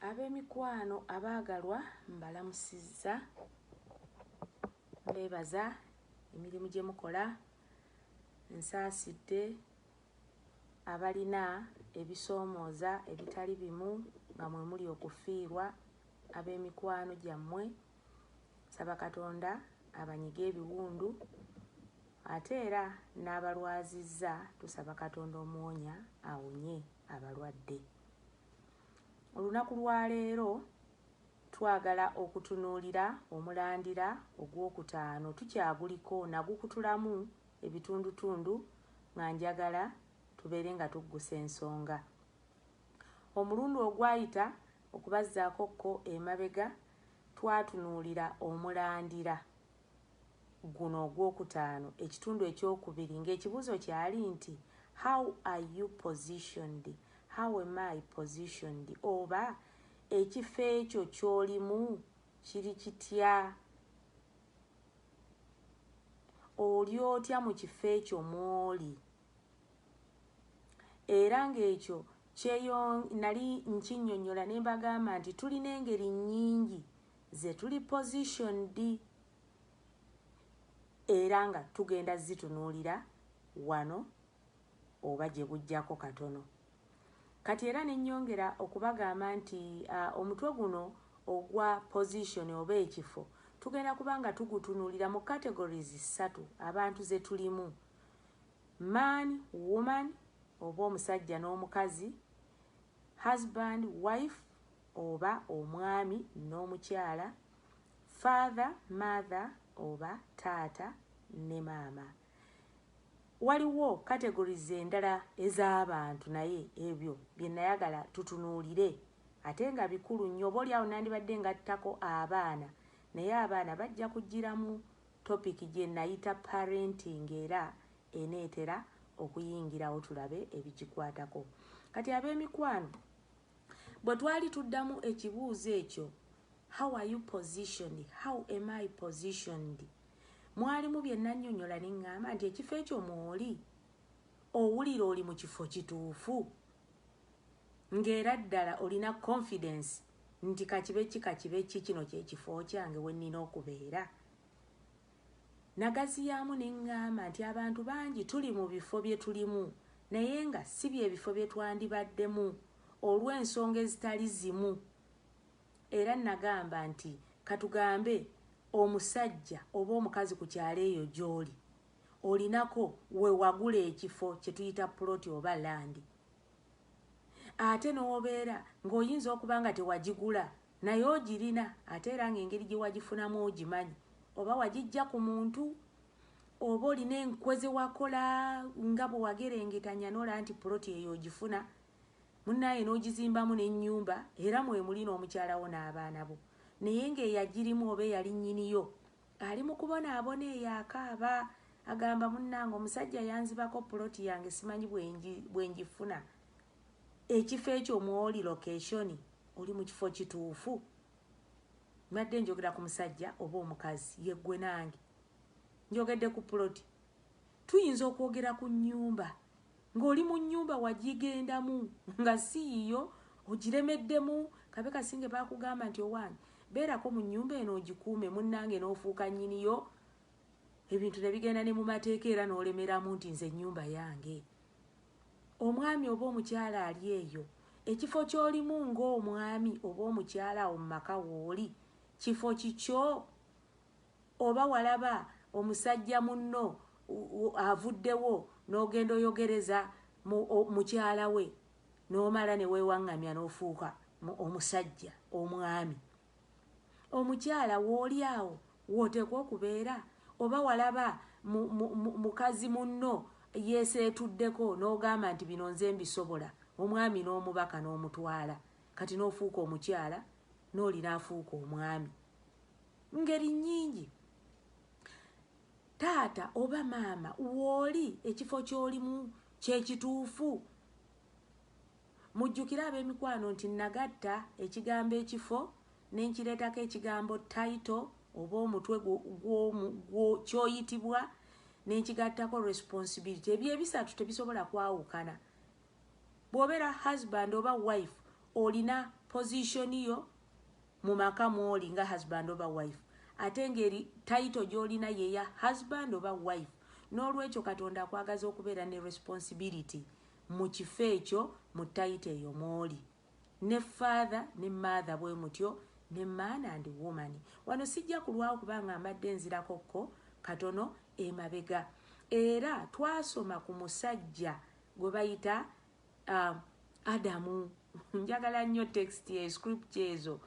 Ab'emikwano abaagalwa mbalamusizza. Mbeebaza emirimu gye mukola. Nsaasidde abalina ebisoomooza ebitali bimu nga mwe muli okufiirwa ab'emikwano gyammwe Nsaba Katonda abanyige ebiwundu ate era n'abalwazizza tusaba Katonda omuwonya awonye abalwadde. Olunaku lwa leero twagala okutunuulira omulandira ogwokutaano tukyaguliko nagukutulamu ebitundutundu nga njagala tubeere nga tuggusa ensonga omulundi ogwayita okubazzaako ko emabega Twatunuulira omulandira guno ogw'okutaano, ekitundu eky'okubiri, nga ekibuuzo kyali nti, How are you positioned? How am I positioned? oba Ekifo ekyo ky'olimu kiri kitya? Oli otya mu kifo ekyo mw'oli? Era ng'ekyo kyeyo nali nkinyonyola ne mbagamba nti tulina engeri nnyingi ze tuli positioned era nga tugenda zitunuulira wano oba gye bujjako katono. Kati era ne nyongera okubagamba nti uh, omutwe guno ogwa position oba ekifo tugenda kuba nga tugutunuulira mu categories ssatu abantu ze tulimu man woman oba omusajja n'omukazi husband wife oba omwami n'omukyala father mother oba taata ne maama waliwo categories endala ez'abantu naye ebyo bye nayagala tutunuulire ate nga bikulu nnyo oba olyawo nandibadde ngattako abaana naye abaana bajja kujjiramu Topic gye nayita Parenting era eneetera okuyingirawo tulabe ebigikwatako. Kati ab'emikwano bwe twali tuddamu ekibuuzo ekyo, How are you positioned? How am I positioned? Mwalimu bye nannyonnyola ne ŋŋamba nti ekifo ekyo mw'oli owulira oli mu kifo kituufu ng'era ddala olina confidence Nti ka kibe ki ka kibe ki, kino kye kifo kyange we nnina okubeera. Nnagaziyaamu ne ŋŋamba nti abantu bangi tuli mu bifo bye tulimu naye nga si bye bifo bye twandibaddemu olw'ensonga ezitali zimu. Era nnagamba nti, Ka tugambe, omusajja oba omukazi ku kyalo eyo gy'oli, olinako we wagula ekifo kye tuyita puloti oba landi, ate n'obeera ng'oyinza okuba nga tewagigula naye ogirina ate era ng'engeri gye wagifunamu ogimanyi oba wagijja ku muntu oba olina enkwe ze wakola nga bwe wagerengetanya n'olaba nti puloti eyo ogifuna munnaaye n'ogizimbamu n'ennyumba era mwe muli n'omukyala wo n'abaana bo naye ng'eyagirimu oba eyali nnyiniyo Ali mu kubonaabona eyo akaaba. Agamba, Munnange, omusajja yanzibako poloti yange, ssimanyi bwe ngifuna. Ekifo ekyo mw'oli, lokeshoni, oli mu kifo kituufu. Mbadde njogera ku musajja oba omukazi, ye ggwe nange. Njogedde ku poloti. Tuyinza okwogera ku nnyumba. Nga oli munyumba wajigendamu nga siyiyo ojiremeddemu kabe kasinge bakugamba nti owange beerako munyumba eno ojikuume munange nofuuka nyiniyo ebintu nebigenda ne mumateeka era nolemeramu nti nze nyumba yange omwami oba omukyala ali eyo ekifo kyolimu nga omwami oba omukyala awo mumaka wooli kifo kikyo Oba walaba omusajja munno avuddewo n'ogenda oyogereza mukyala we n'omala ne weewaŋŋamya n'ofuuka omusajja, omwami. Omukyala w'oli awo w'oteekwa okubeera? Oba walaba mukazi munno yeeseetuddeko n'ogamba nti bino nze mbisobola, omwami n'omubaka n'omutwala kati n'ofuuka omukyala n'oli n'afuuka omwami. ngeri nyingi taata oba maama wooli ekifo kyolimu kyekituufu mujjukire ab'emikwano nti nagatta ekigambo ekifo nenkireetako ekigambo taito oba omutwe kyoyitibwa nenkigattako responsibility ebyo ebisatu tebisobola kwawukana Bwobera husband oba wife olina position yo mumaka mwoli nga husband oba wife ate nga eri title gyolina yeya husband oba wife nolwekyo katonda akwagaza okubeera ne responsibility mukifo ekyo mu title eyo mwoli ne father ne mother bwemutyo ne man and woman wano sijja kulwawo kubanga mbadde nzirako ko katono emabega era twasoma ku musajja gwe bayita um, adamu njagala nnyo text ye script ezo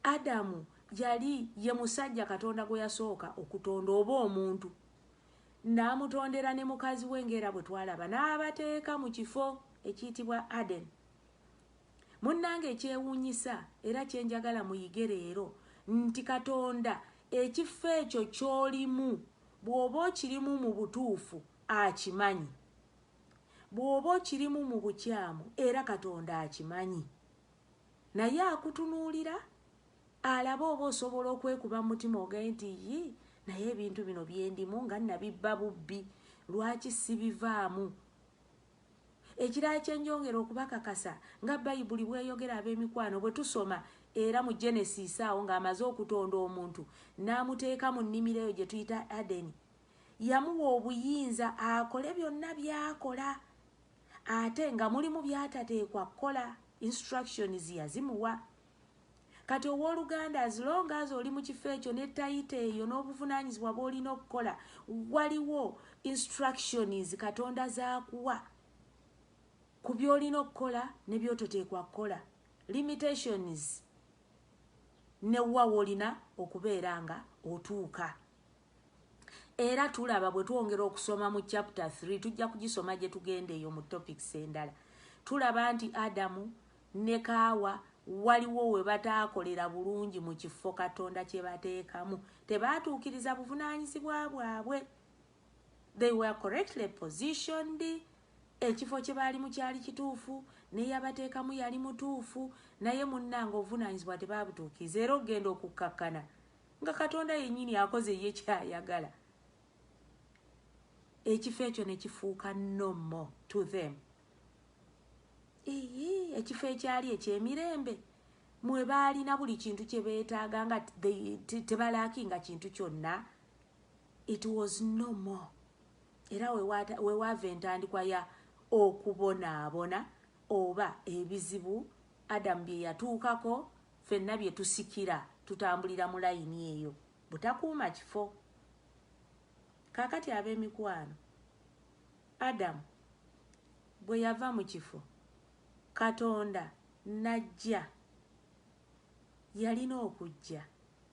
adamu yali ye musajja katonda gwe yasooka okutonda oba omuntu n'amutondera ne mukazi we ng'era bwe twalaba n'abateeka mu kifo ekiyitibwa aden munnanga ekyewuunyisa era kye njagala muyige leero nti katonda ekifo ekyo ky'olimu bw'oba okirimu mu butuufu akimanyi bwoba okirimu mu bukyamu era katonda akimanyi naye akutunuulira alabe oba osobola okwekuba mu mutima ogaye nti yi naye ebintu bino byendimu nga nabibba bubbi lwaki sibivaamu ekirala kyenjongera okubakakasa nga bayibuli bweyogera ab'emikwano bwe tusoma era mu genesis awo ng'amaze okutonda omuntu n'amuteeka mu nnimiro eyo gye tuyita adeni yamuwa obuyinza akole byonna byakola ate nga mulimu byatateekwa kukola instructions yazimuwa kati owoluganda as long as oli mu kifo ekyo ne tayita eyo n'obuvunanyizibwa bwolina okukola waliwo instructions katonda zakuwa ku byolina okukola ne byototeekwa kukola limitations newuwa wolina okubeera nga otuuka era tulaba bwe twongera okusoma mu chapter 3 tujja kugisoma gye tugenda eyo mu topics endala tulaba nti adamu ne kaawa waliwo we bataakolera bulungi mu kifo katonda kye bateekamu tebaatuukiriza buvunaanyizibwa bwabwe they were correctly positioned ekifo kye baalimu kyali kituufu neyabateekamu yali mutuufu naye munnanga obuvunaanyizibwa tebaabutuukiriza era okugenda okukkakkana nga katonda yenyini akoze ye kyayagala ekifo ekyo nekifuuka no more to them ii ekifo ekyali ekyemirembe mwe baalina buli kintu kye beetaaga nga tebalaakinga kintu kyonna it was no more era wewaava entandikwa ya okubonaabona oba ebizibu adamu bye yatuukako Ffenna bye tusikira tutambulira mu layini eyo butakuuma kifo. Kaakati, ab'emikwano, Adamu bwe yava mu kifo Katonda n'ajja, yalina okujja.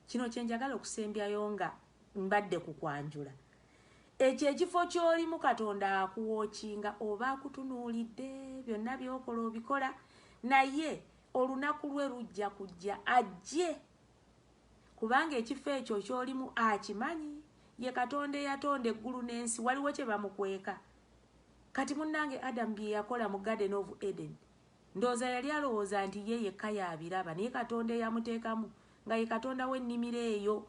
Kino kye njagala okusembyayo nga mbadde ku kwanjula. Ekyo ekifo ky'olimu Katonda akuwookinga oba akutunuulidde, byonna by'okola obikola, naye Olunaku lwe lujja kujja ajje, kubanga ekifo ekyo ky'olimu akimanyi. Ye Katonda eyatonda eggulu n'ensi, waliwo kye bamukweka? Kati munnange Adamu bye yakola mu Garden of Eden, ndowooza yali alowooza nti ye yekka y'abiraba, naye Katonda eyamuteekamu, nga ye Katonda w'ennimiro eyo,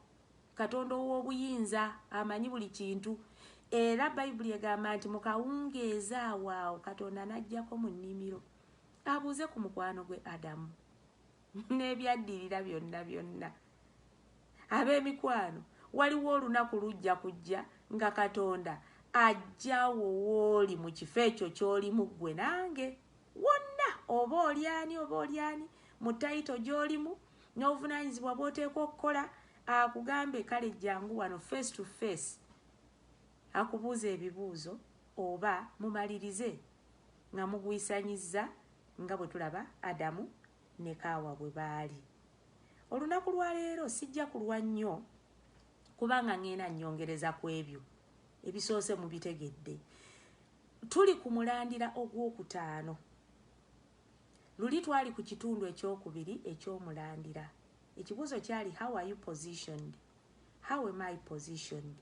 Katonda ow'obuyinza, amanyi buli kintu. Era Bayibuli egamba nti mu kawungeezi awo awo Katonda n'ajjako mu nnimiro. Abuuze ku mukwano gwe Adamu n'ebyaddirira byonna byonna. Ab'emikwano, waliwo olunaku lujja kujja nga Katonda ajja wo wooli mu kifo ekyo ky'olimu ggwe nange wonna oba oli ani oba oli ani mu tayito gy'olimu n'obuvunaanyizibwa bw'oteekwa okukola akugambe kale jangu wano face to face akubuuza ebibuuzo oba mumalirize Nga mugwisanyizza nga bwe tulaba Adamu ne Kaawa bwe baali. Olunaku lwa leero sijja kulwa nnyo kubanga ŋŋenda nnyongereza ku ebyo ebisoose mubitegedde. Tuli ku mulandira ogw'okutaano. Luli twali ku kitundu eky'okubiri eky'omulandira. Ekibuuzo kyali how are you positioned? How am I positioned?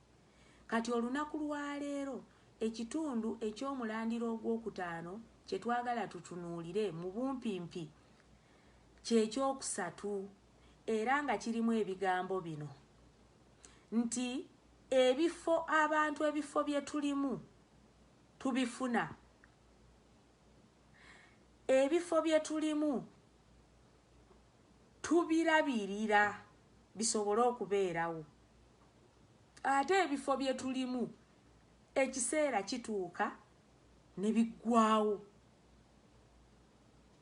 Kati olunaku lwa leero, ekitundu eky'omulandira ogw'okutaano kye twagala tutunuulire mu bumpimpi kye ky'okusatu, era nga kirimu ebigambo bino nti, Ebifo abantu ebifo bye tulimu tubifuna. Ebifo bye tulimu tubirabirira bisobole okubeerawo. ate ebifo bye tulimu ekiseera kituuka ne biggwawo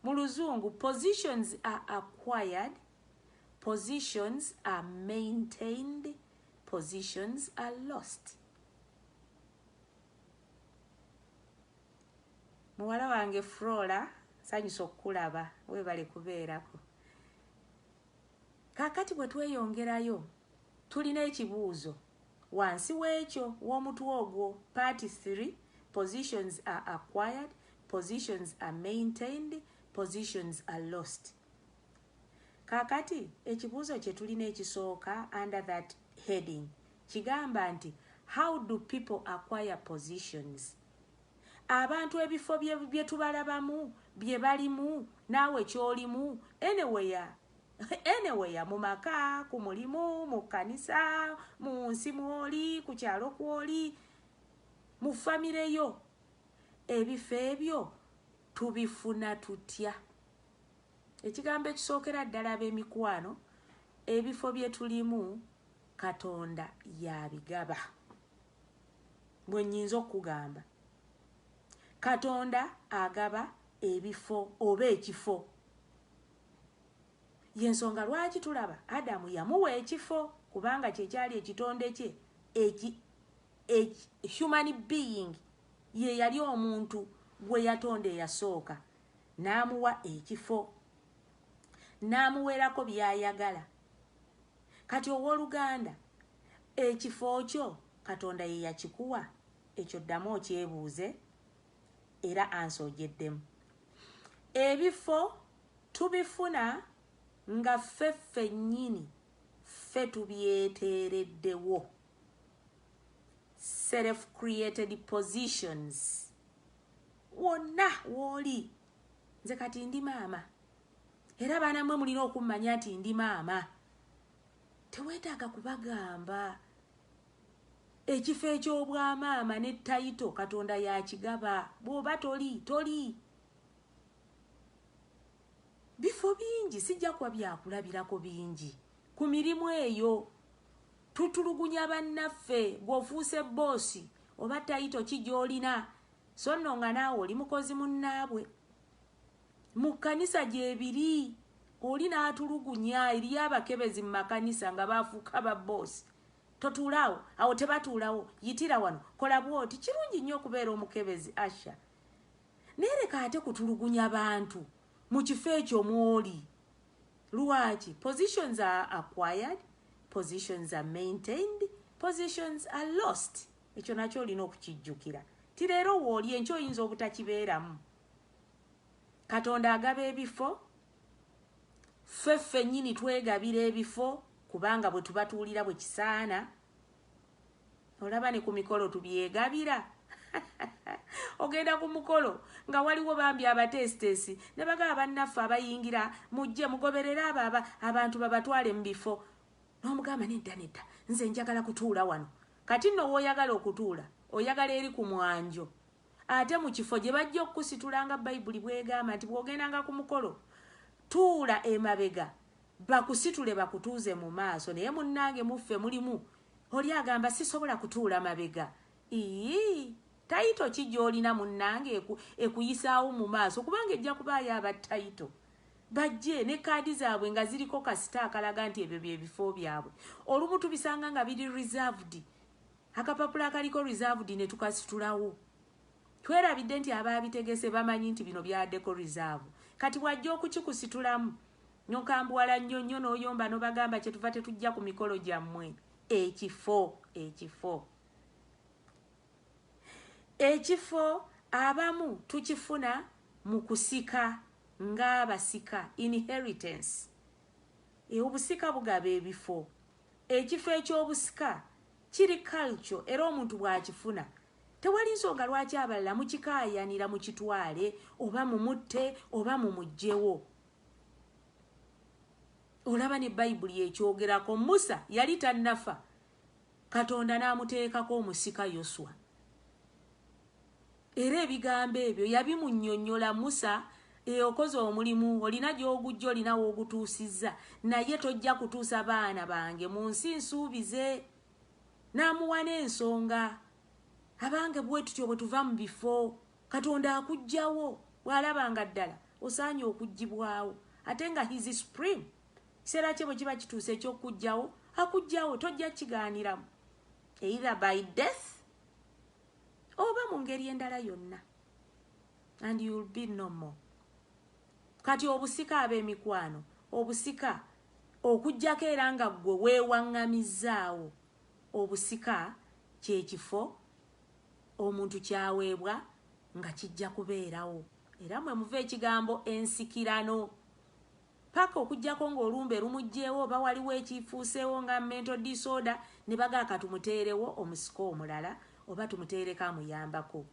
mu luzungu positions are acquired positions are maintained positions are lost muwala wange frola nsanyusa okukulaba webale kubeerako Kaakati bwe tweyongerayo, tulina ekibuuzo wansi w'ekyo, w'omutwe ogwo, Part Three, Positions are acquired, positions are maintained, positions are lost. Kaakati, ekibuuzo kye tulina ekisooka under that heading, kigamba nti, How do people acquire positions? abantu ebifo byetubalabamu byebalimu naawe kyolimu anywhere anywhere mu maka ku mulimu mu kkanisa mu nsi mwoli ku kyalo kwoli mu famire yo ebifo ebyo tubifuna tutya ekigambo ekisookera ddala ab'emikwano ebifo bye tulimu katonda yabigaba Bwe nnyinza okukugamba. Katonda agaba ebifo oba ekifo. Y'ensonga lwaki tulaba Adamu yamuwa ekifo kubanga kye kyali ekitonde kye eki, eki, human being ye yali omuntu gwe yatonda eyasooka n'amuwa ekifo n'amuweerako by'ayagala Kati owoluganda, ekifo kyo Katonda ye yakikuwa? Ekyo ddamu okyebuuze, era ansa ogyeddemu. Ebifo tubifuna nga ffe ffennyini ffe tubyeteereddewo, self created positions. Wonna w'oli, nze kati ndi maama, era baana mwe mulina okummanya nti ndi maama teweetaaga kubagamba ekifo eky'obwamaama ne tayito katonda yakigaba bw'oba toli toli bifo bingi sijja kuba byakulabirako bingi ku mirimu eyo tutulugunya bannaffe gweofuuse boosi oba tayito ki gy'olina so nno nga naawe oli mukozi munnaabwe Mu kkanisa gyebiri. Oli n'atulugunya, eriyo abakebezi mu makanisa nga baafuuka ba boss. Totuula awo, awo tebatuulawo, yitira wano, kola bw'oti. Kirungi nnyo okubeera omukebezi, usher. Naye leka ate kutulugunya bantu mu kifo ekyo mw'oli. Lwaki? Positions are acquired, positions are maintained, positions are lost. Ekyo nakyo olina okukijjukira nti leero wooli, enkya oyinza obutakibeeramu. katonda agaba ebifo ffe ffennyini twegabira ebifo kubanga bwe tubatuulira bwe kisaana olaba ne ku mikolo tubyegabira ogenda ku mukolo nga waliwo bambi abateesiteesi ne bagaba bannaffe abayingira mujje mugoberere abo aba abantu babatwale mu bifo n'omugamba nedda nedda nze njagala kutuula wano kati nno wooyagala okutuula oyagala eri ku mwanjo Ate mu kifo gye bajja okukusitula nga Bayibuli bw'egamba nti bw'ogendanga ku mukolo tuula emabega bakusitule bakutuuze mu maaso naye munnange muffe mulimu oli agamba sisobola kutuula mabega iyii tayito ki gy'olina munnange ekuyisaawo mu maaso kubanga ejja kubaayo aba tayito bajje ne kaadi zaabwe nga ziriko kasita akalaga nti ebyo bye bifo byabwe olumu tubisanga nga biri reserved Akapapula akaliko Reserved ne tukasitulawo. Twerabidde nti abaabitegese bamanyi nti bino byaddeko Reserve. Kati bw'ajja okukikusitulamu n'okambuwala nnyo nnyo n'oyomba n'obagamba kye tuva tetujja ku mikolo gyammwe. Ekifo, ekifo. Ekifo abamu tukifuna mu kusika ng'abasika, inheritance. Obusika bugaba ebifo. Ekifo eky'obusika kiri culture era omuntu bw'akifuna tewali nsonga lwaki abalala mukikaayanira mukitwale oba mumutte oba mumuggyewo. Olaba ne Bayibuli ekyogerako. Musa yali tannafa Katonda n'amuteekako omusika Yoswa. Era ebigambo ebyo yabimunnyonnyola Musa, E, okoze omulimu, olina gy'oguggye, olina w'ogutuusizza, naye tojja kutuusa baana bange mu nsi nsuubize. N'amuwa n'ensonga. Abange bwe tutyo bwe tuva mu bifo. Katonda akuggyawo bw'alaba nga ddala osaanye okuggyibwawo. Ate nga He is Supreme. Ekiseera kye bwe kiba kituuse eky'okukuggyawo, akuggyawo, tojja kukigaaniramu. Either by death. oba mu ngeri endala yonna and you will be no more kati obusika ab'emikwano obusika okujjako era nga ggwe weewaŋŋamizzaawo obusika kye kifo omuntu kyaweebwa nga kijja kubeerawo era mwe muva ekigambo ensikirano Paka okujjako nga olumbe lumujjeewo oba waliwo ekyifuuseewo nga mental disorder nebagaa katumuteerewo omusika omulala oba tumuteereko amuyambako.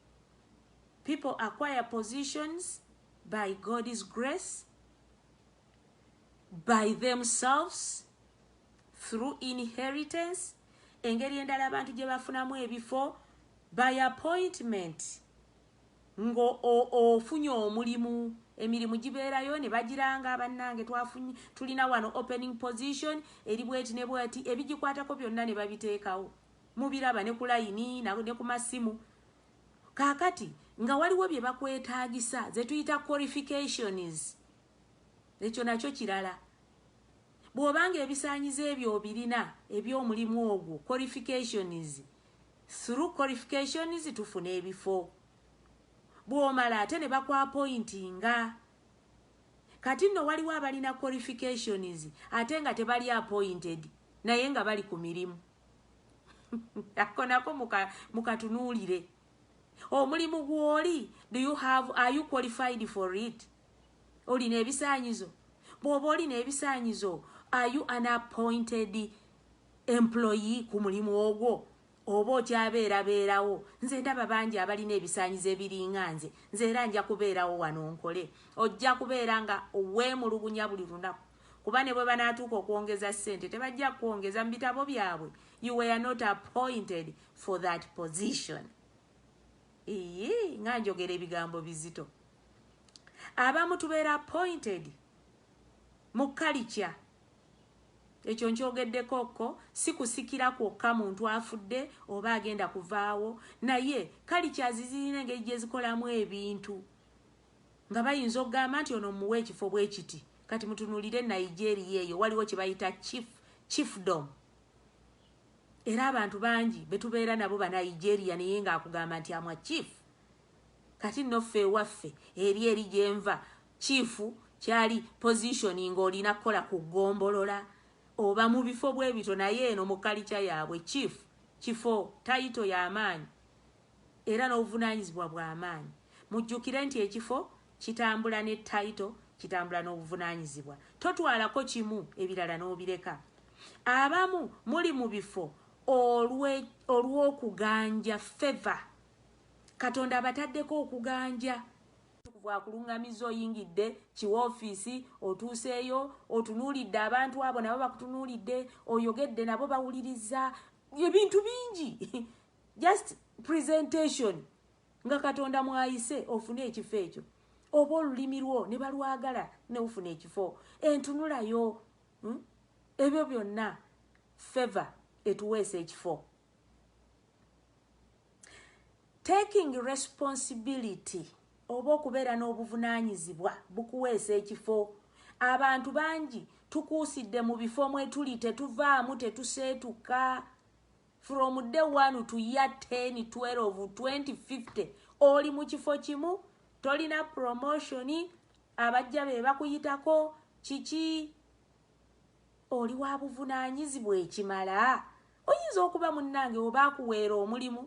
People acquire positions by God's grace, by themselves, through inheritance, engeri endala abantu gyebafunamu ebifo by appointment. Ngo o o funye omulimu emirimu giberayo nebagiranga banange twafunye tulina wano opening position eri bweti ne bweti ebigikwatako byonna nebabitekawo mubiraba ne kulayini ne kumasimu kakati nga waliwo byebakwetagisa zetuyita qualifications ekyo nakyo kirala bwobanga ebisanyizo ebyo obirina ebyomulimu ogwo qualifications through qualifications tufune ebifo bwomala ate ne bakwapointinga kati nno waliwo abalina qualifications ate nga tebali appointed naye nga bali ku mirimu ako nako mukatunuulire muka omulimu gwoli do you have are you qualified for it olina ebisanyizo bwoba olina ebisanyizo are you an appointed employee ku mulimu ogwo oba okyabeerabeerawo nze ndaba bangi abalina ebisaanyizo ebiringa nze nze era nja kubeerawo wano nkole ojja kubeera nga weemulugunya buli lunaku kuba ne bwe banaatuuka okwongeza ssente tebajja kukwongeza mu bitabo byabwe you were not appointed for that position iyi nga njogera ebigambo bizito abamu tubeera appointed mu kalikya Ekyo nkyogeddeko ko, si kusikira kwokka muntu afudde oba agenda kuvaawo, naye cultures zirina engeri gye zikolamu ebintu nga bayinza okugamba nti ono mmuwa ekifo bwe kiti. Kati mutunuulire Nigeria eyo waliwo kye bayita chief, chiefdom. Era abantu bangi be tubeera nabo Banigeria naye ng'akugamba nti amwa chief. Kati nno ffe ewaffe eri eri gye nva Chief kyali position nga olina kola ku gombolola oba mubifo bwebito naye eno mu kalicha yabwe chief kifo title yamaanyi era nobuvunanyizibwa bwamaanyi mujjukire nti ekifo kitambula ne title kitambula nobuvunanyizibwa totwalako kimu ebirala nobireka abamu muli mubifo olwe olwokuganja favor katonda abataddeko okuganja Omutukuvu akulungamizza oyingidde ki wofiisi, otuuseeyo, otunuulidde abantu abo nabo bakutunuulidde, oyogedde nabo bawulirizza, ebintu bingi just presentation nga Katonda mwayise ofune ekifo ekyo oba olulimi lwo ne balwagala neufuna ekifo entunulayo hmm? ebyo byonna feva etuweesa ekifo taking responsibility oba okubeera n'obuvunaanyizibwa bukuweesa ekifo abantu bangi tukuusidde mu bifo mwetuli tetuvaamu tetuseetuka from day one to year 10 12 2050 oli mu kifo kimu tolina promotion abajja be bakuyitako kiki Oli wa buvunaanyizibwa ekimala? Oyinza okuba munnange oba akuweera omulimu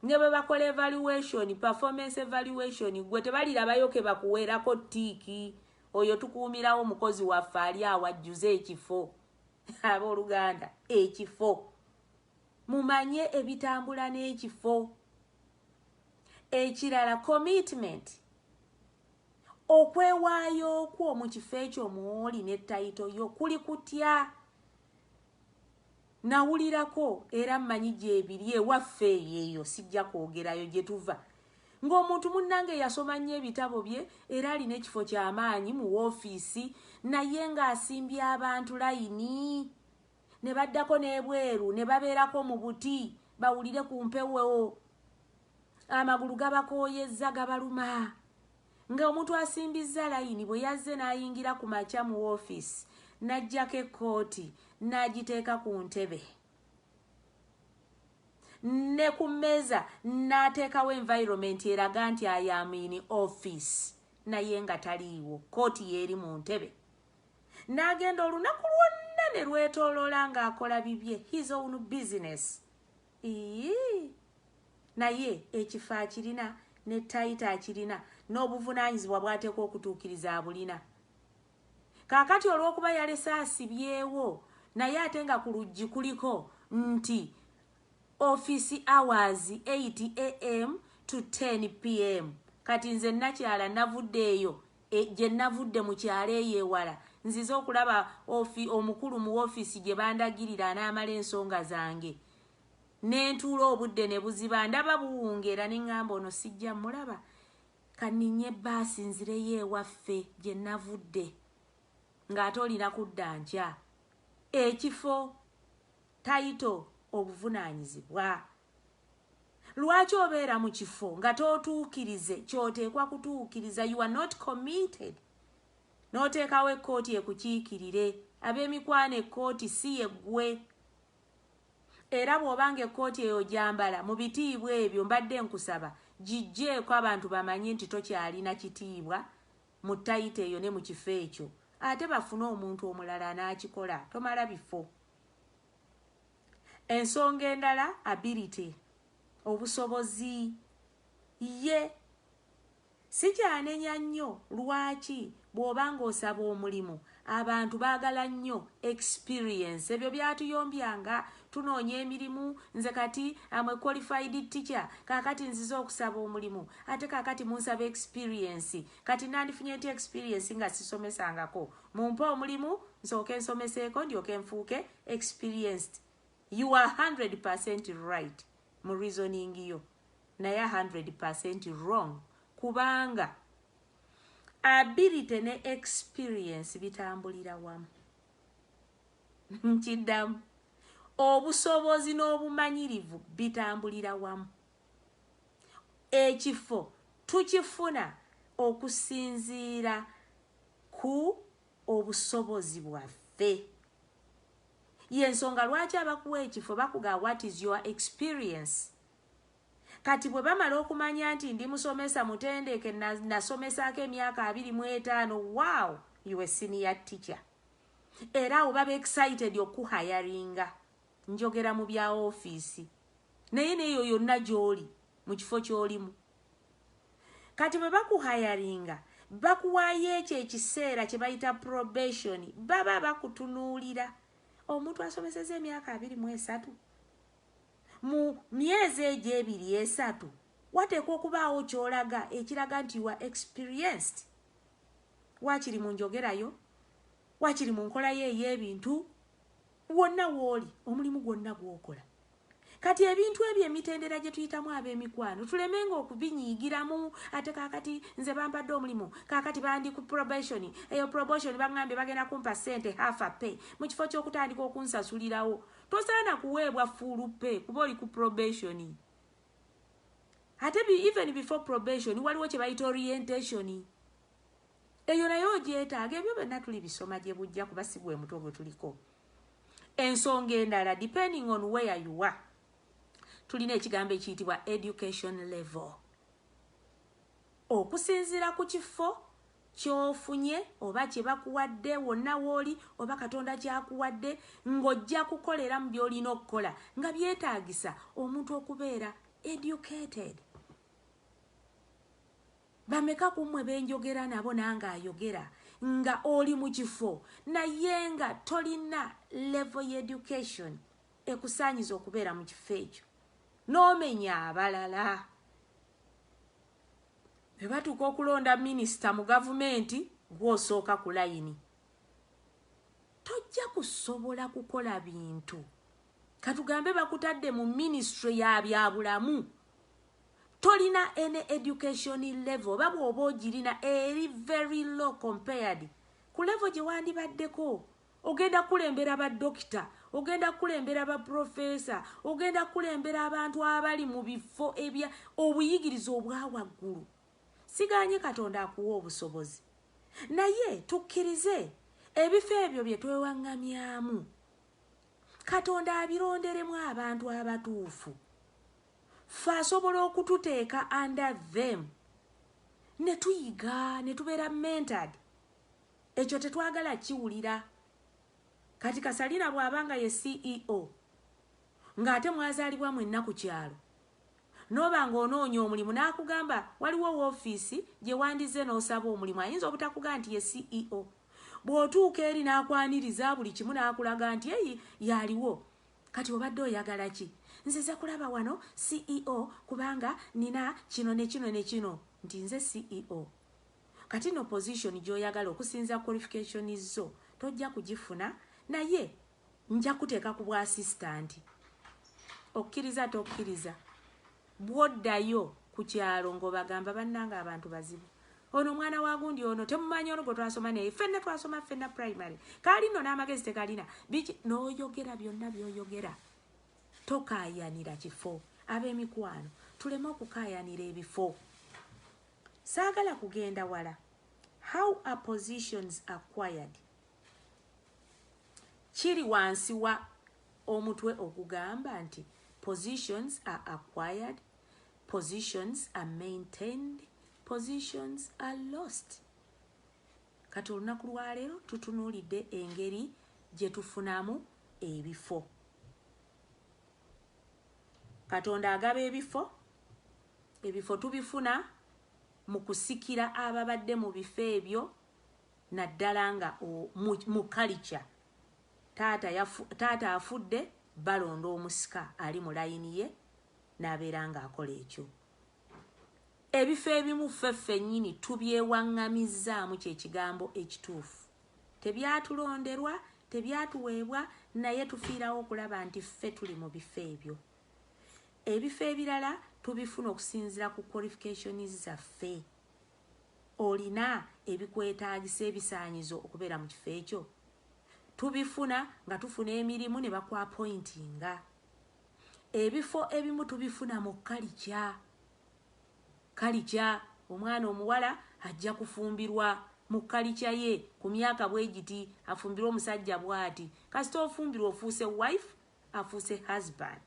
ne bwe bakola evaluation performance evaluation gwe tebalirabayo ke bakuweerako ttiiki oyo tukuumirawo mukozi waffe ali awo ajjuze ekifo abooluganda ekifo mumanye ebitambula n'ekifo ekirala commitment Okwewaayo kwo mu kifo ekyo mw'oli ne tayito yo kuli kutya? Nawulirako era mmanyi gyebiri ewaffe eyo eyo sijja kwogerayo gye tuva ng'omuntu munnange yasoma nnyo ebitabo bye era alina ekifo ky'amaanyi mu woofiisi naye ng'asimbye abantu layini ne baddako n'ebweru ne babeerako mu buti bawulire ku mpewo. Amagulu gabakooyezza gabaluma nga omuntu asimbizza layini bwe yazze n'ayingira ku makya mu woofiisi n'aggyako ekkooti n'agiteeka ku ntebe ne ku mmeeza n'ateekawo environment eraga nti ayaamiini office naye nga taliiwo kkooti yeeri mu ntebe n'agenda olunaku lwonna ne lwetooloola ng'akola bibye his own business Iyii naye ekifo akirina ne title akirina n'obuvunanyizibwa bwatekwa okutuukiriza abulina. Kaakati olw'okuba yalese asibyewo naye ate nga ku luggi kuliko nti office hours 8 AM to 10 PM kati nze Nakyala navudde eyo Gye nnavudde mu kyalo eyo ewala, nzize okulaba ofi, omukulu mu woofiisi gye bandagirira anaamala ensonga zange. Ne ntuula obudde ne buziba, ndaba buwungeera ne ŋŋamba ono sijja mmulaba. Ka nninnye bbaasi nzireyo ewaffe gye nnavudde. Ng'ate olina kudda nkya. Ekifo, tayito, obuvunaanyizibwa. Lwaki obeera mu kifo nga tootuukirize ky'oteekwa kutuukiriza? You are not committed. N'oteekawo ekkooti ekukiikirire. Ab'emikwano ekkooti si ye ggwe. Era bw'oba ng'ekkooti eyo ogyambala mu bitiibwa ebyo, mbadde nkusaba giggyeeko abantu bamanye nti tokyalina kitiibwa mu tayito eyo ne mu kifo ekyo. Ate bafune omuntu omulala anaakikola. Tomala bifo. Ensonga endala ability, obusobozi, ye. Sikyanenya nnyo lwaki bw'oba ng'osaba omulimu abantu baagala nnyo experience. Ebyo byatuyombya nga tunoonya emirimu. Nze kati am a qualified teacher, kaakati nzize okusaba omulimu ate kaakati munsaba experience. Kati nandifunye ntya experience nga sisomesangako? Mumpe omulimu nsooke nsomeseeko ndyoke nfuuke experienced you are 100% right mu reasoning yo naye 100% wrong kubanga ability ne experience bitambulira wamu nkiddamu obusobozi n'obumanyirivu bitambulira wamu ekifo tukifuna okusinziira ku obusobozi bwaffe yensonga lwaki abakuwa ekifo bakuga what is your experience kati bwe bamala okumanya nti ndi musomesa mutendeke nasomesaako emyaka abiri mu etaano wow you a senior teacher era awo baba excited okuhayaringa njogera mu bya ofiisi naye neeyo yonna gy'oli mu kifo ky'olimu kati bwe bakuhayaringa bakuwaayo ekyo ekiseera kye bayita probation baba bakutunuulira omuntu asomeseza emyaka abiri mu esatu mu myezi egyo ebiri esatu wateekwa okubaawo kyolaga ekiraga nti wa experienced wakiri mu njogerayo wakiri mu nkolayo ey'ebintu wonna wooli omulimu gwonna gwokola kati ebintu ebyo emitendera gye tuyitamu ab'emikwano tuleme nga okubinyiigiramu ate kaakati nze bampadde omulimu kaakati bandi ku probation eyo probotion baŋambye bagenda kumpa ssente half a pay mu kifo ky'okutandika okunsasulirawo tosaana kuweebwa fuulu pay kuba oli ku probation ate even before probation waliwo kye bayita orientation Eyo nayo ogyetaaga ebyo byonna tuli bisoma gye bujja kuba si gwe mutwe gwe tuliko ensonga endala depending on where you are tulina ekigambo ekiyitibwa education level okusinziira ku kifo kyofunye oba kye bakuwadde wonna wooli oba katonda kyakuwadde ng'ojja kukolera mu by'olina okukola nga byetaagisa omuntu okubeera educated Bameka kumwe benjogera nabo nange ayogera nga oli mukifo naye nga tolina level ya education ekusanyiza okubeera mukifo ekyo nomenya abalala bebatuuka okulonda minisita mu gavumenti gwosooka ku layini tojja kusobola kukola bintu Katugambe bakutadde mu ministry ya byabulamu tolina any education level oba bwoba ogirina eri very low compared ku level gye wandibaddeko ogenda kulembera ba dokita ogenda kulembera ba profesa ogenda kulembera abantu abali mu bifo ebya obuyigiriza obwawaggulu siganye katonda akuwa obusobozi naye tukkirize ebifo ebyo bye twewaŋŋamyamu Katonda abironderemu abantu abatuufu. Ffe asobola okututeeka under them ne tuyiga ne tubeera mentored. Ekyo tetwagala kiwulira. Kati Kasalina bw'aba nga ye CEO ng'ate mwazaalibwa mwenna ku kyalo N'oba ng'onoonya omulimu n'akugamba waliwo woofiisi gye wandizze n'osaba omulimu ayinza obutakugamba nti ye CEO. Bw'otuuka eri n'akwaniriza buli kimu n'akulaga nti eyi y'aliwo kati obadde oyagala ki? Nzize kulaba wano CEO kubanga nnina kino ne kino ne kino nti nze CEO. Kati nno pozisoni gy'oyagala okusinza kwolifikashoni zo tojja kugifuna naye Nja kuteeka ku bwa asisitanti. Okkiriza ate okkiriza. Bw'oddayo ku kyalo ng'obagamba bannanga abantu bazibu. Ono omwana wa gundi ono temumanyi ono gwe twasoma naye ffenna twasoma ffenna primary. Kaali nno n'amagezi tegalina. Biki n'oyogera byonna by'oyogera. Tokaayanira kifo. Ab'emikwano tuleme okukaayanira ebifo. Saagala kugenda wala. How are positions acquired? kiri wansi wa omutwe ogugamba nti positions are acquired positions are maintained positions are lost kati olunaku lwaleero tutunuulidde engeri gye tufunamu ebifo katonda agaba ebifo ebifo tubifuna mu kusikira ababadde mu bifo ebyo naddala nga mu kalica taata afudde balonda omusika ali mu layini ye n'abeera ng'akola ekyo ebifo ebimu ffe ffennyini tubyewaŋŋamizzaamu kye kigambo ekituufu tebyatulonderwa tebyatuweebwa naye tufiirawo okulaba nti ffe tuli mu bifo ebyo ebifo ebirala tubifuna okusinziira ku qualifications zaffe olina ebikwetaagisa ebisaanyizo okubeera mu kifo ekyo tubifuna nga tufuna emirimu ne bakwapointinga ebifo ebimu tubifuna mu kalikya kalikya omwana omuwala ajja kufumbirwa mu kalikya ye ku myaka bwe giti afumbirwa omusajja bwati kasita ofumbirwa ofuuse wife afuuse husband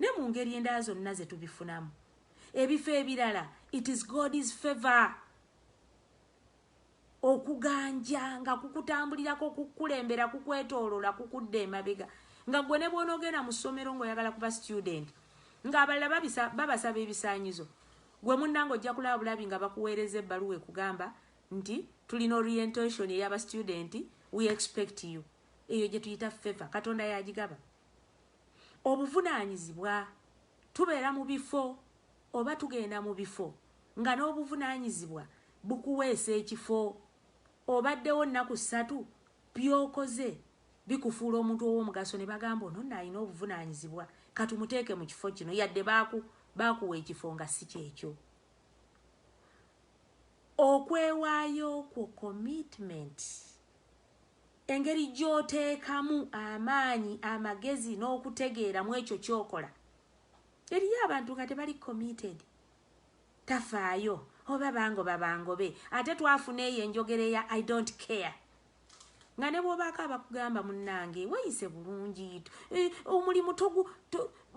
ne mu ngeri endala zonna ze tubifunamu ebifo ebirala it is god's favor okuganja nga kukutambulirako kukulembera kukwetoolola kukudda emabega nga gwe ne bw'onoogenda mu ssomero ng'oyagala kuba student ng'abalala babasaba ebisaanyizo gwe munnanga ojja kulaba bulabi nga bakuweereza ebbaluwa ekugamba nti tulina orientation eyaba student we expect you eyo gye tuyita feva katonda yagigaba Obuvunaanyizibwa, Tubeera mu bifo oba tugenda mu bifo nga n'obuvunaanyizibwa bukuweesa ekifo. Obaddewo nnaku ssatu, by'okoze bikufuula omuntu ow'omugaso ne bagamba ono nno alina obuvunaanyizibwa ka tumuteeke mu kifo kino yadde baakuwa ekifo nga si kyekyo. Okwewaayo kwo, commitment. Engeri gy'oteekamu amaanyi, amagezi, n'okutegeera mu ekyo ky'okola. Eriyo abantu nga tebali committed. Tafaayo oba bangoba bangobe. Ate twafuna eyo enjogera eya I don't care. Nga ne bw'obaako abakugamba munnange weeyise bulungi, eh, omulimu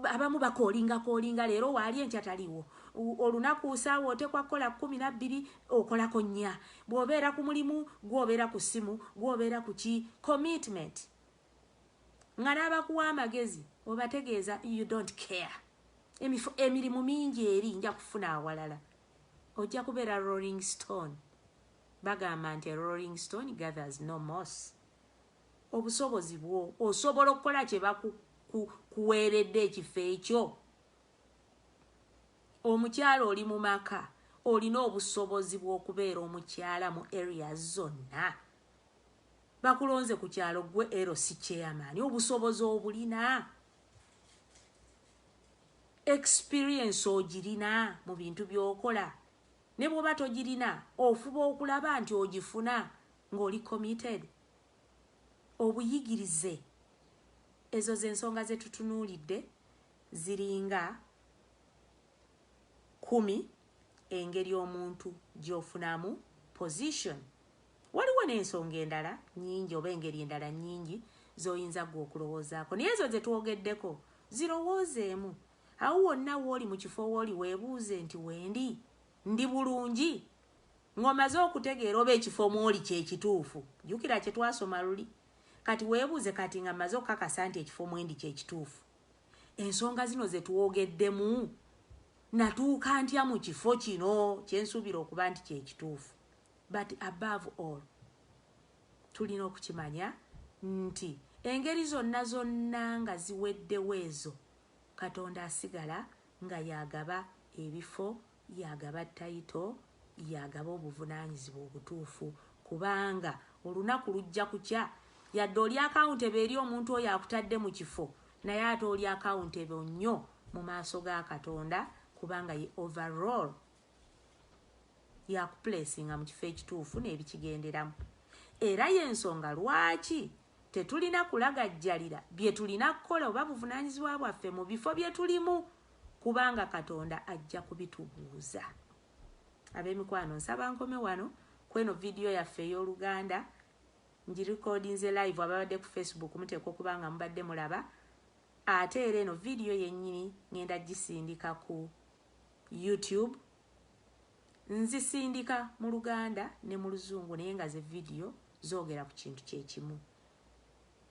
abamu bakoolinga koolinga leero waali enkya taliwo olunaku saawa otekwa kukola kumi nabbiri okolako nnya bw'obeera ku mulimu gwobeera ku ssimu gwobeera ku ki commitment nga n'abakuwa amagezi obategeeza you don't care emirimu mingi eri nja kufuna awalala ojja kubeera rolling stone bagamba nti rolling stone gathers no mos Obusobozi bwo osobola okukola kye bakuweeredde ekifo ekyo. Omukyala oli mu maka olina obusobozi bw'okubeera omukyala mu areas zonna. Bakulonze ku kyalo gwe ero si chairman obusobozi obulina. Experience ogirina mu bintu by'okola ne bw'oba togirina ofuba okulaba nti ogifuna ng'oli committed. obuyigirize ezo zensonga zetutunuulidde ziringa kumi engeri omuntu gyofunamu position waliwo nensonga endala nyingi oba engeri endala nyingi zoyinza gwe okulowoozaako naye ezo zetwogeddeko zirowoozeemu awo wonna wooli mu kifo wooli webuuze nti wendi ndi bulungi Ng'omaze okutegeera oba ekifo mw'oli kye kituufu, jjukira kye twasoma luli. Kati weebuuze, Kati nga mmaze okukakasa nti ekifo mwe ndi kye kituufu, ensonga zino ze twogeddemu, nnatuuka ntya mu kifo kino kye nsuubira okuba nti kye kituufu? But above all, tulina okukimanya nti engeri zonna zonna nga ziweddewo ezo, Katonda asigala nga y'agaba ebifo Y'agaba title, y'agaba obuvunanyizibwa obutuufu kubanga olunaku lujja kukya yadde oli accountable eri omuntu oyo akutadde mu kifo naye ate oli accountable nnyo mu maaso ga Katonda kubanga ye overall yakuplacinga mu kifo ekituufu n'ebikigenderamu era y'ensonga lwaki tetulina kulagajjalira bye tulina kukola oba buvunanyizibwa bwaffe mu bifo bye tulimu kubanga katonda ajja kubitubuuza abemikwano nsaba nkome wano kweno vidiyo yaffe ey'oluganda ngirikodinze live ababadde ku facebook muteekwa okuba nga mubadde mulaba ate era eno vidiyo yennyini ngenda gisindika ku youtube nzisindika mu luganda ne mu luzungu naye nga ze vidiyo zoogera ku kintu kyekimu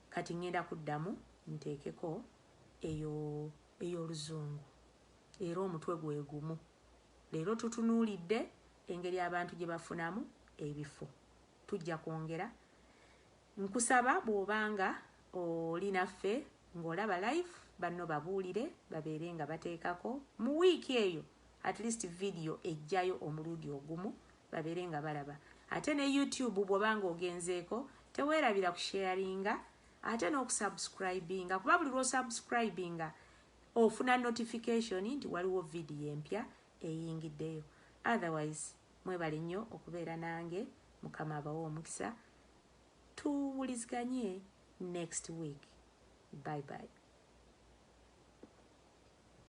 kati ngenda kuddamu nteekeko eyo ey'oluzungu era omutwe gwe gumu. Leero tutunuulidde engeri abantu gye bafunamu ebifo. Tujja kwongera. Nkusaba bw'oba nga oli naffe ng'olaba live banno babuulire babeere nga bateekako mu wiiki eyo at least vidiyo ejjayo omulundi ogumu babeere nga balaba. Ate ne YouTube bw'oba ng'ogenzeeko teweerabira kusheyaringa ate n'okusubscribinga kuba buli lw'osubscribinga ofuna notification nti waliwo vidiyo empya eyingiddeyo otherwise mwebale nnyo okubeera nange mukama abawa omukisa tuwuliziganye next week bye bye